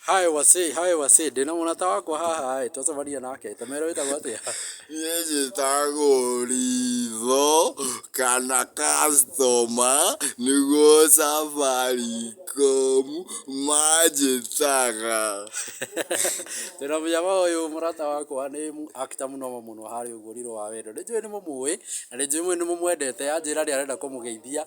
Hi wasee, hi wasee, ndĩna mũrata wakwa haha ĩĩ, twacemania nake, ta mera wĩtagwo atĩa? Niĩ njĩtagwo Ritho kana customer nĩguo Safaricom manjĩtaga. Twĩna mũnyama ũyũ mũrata wakwa nĩ mũ actor mũnomo mũno harĩa ũguo Rirũ wa wendo. Nĩ njũĩ nĩ mũmũĩ, na nĩ njũĩ nĩ mũmwendete, anjĩra nĩ arenda kũmũgeithia.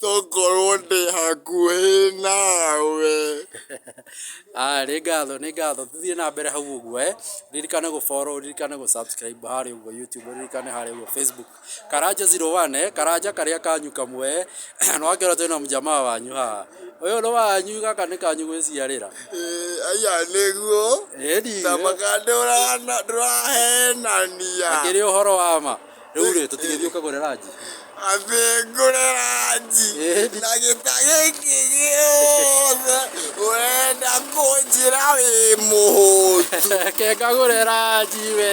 Tongorwo ndĩ hakuhĩ nawe. Aya nĩ ngatho nĩ ngatho tũthiĩ na mbere hau ũguo eh ririkane gũ follow ririkane gũ subscribe harĩa ũguo YouTube ririkane harĩa ũguo Facebook Karanja 01 eh Karanja karĩa kanyu kamwe eh na wakĩona twĩna mũjamaa wanyu haha ũyũ nĩ wanyu gaka nĩ kanyu gwĩciarĩra Eh, aya nĩguo ĩni na makandũra ndũrahenania akĩrĩ ũhoro wa ma Rĩu rĩ, tũtigĩthiĩ ũkagũre ranji? Ambĩ ngũre ranji Ĩĩ. na gĩta gĩkĩ gĩothe ũrenda kũnjĩra wĩ mũhũtu. Reke ngagũre ranji we.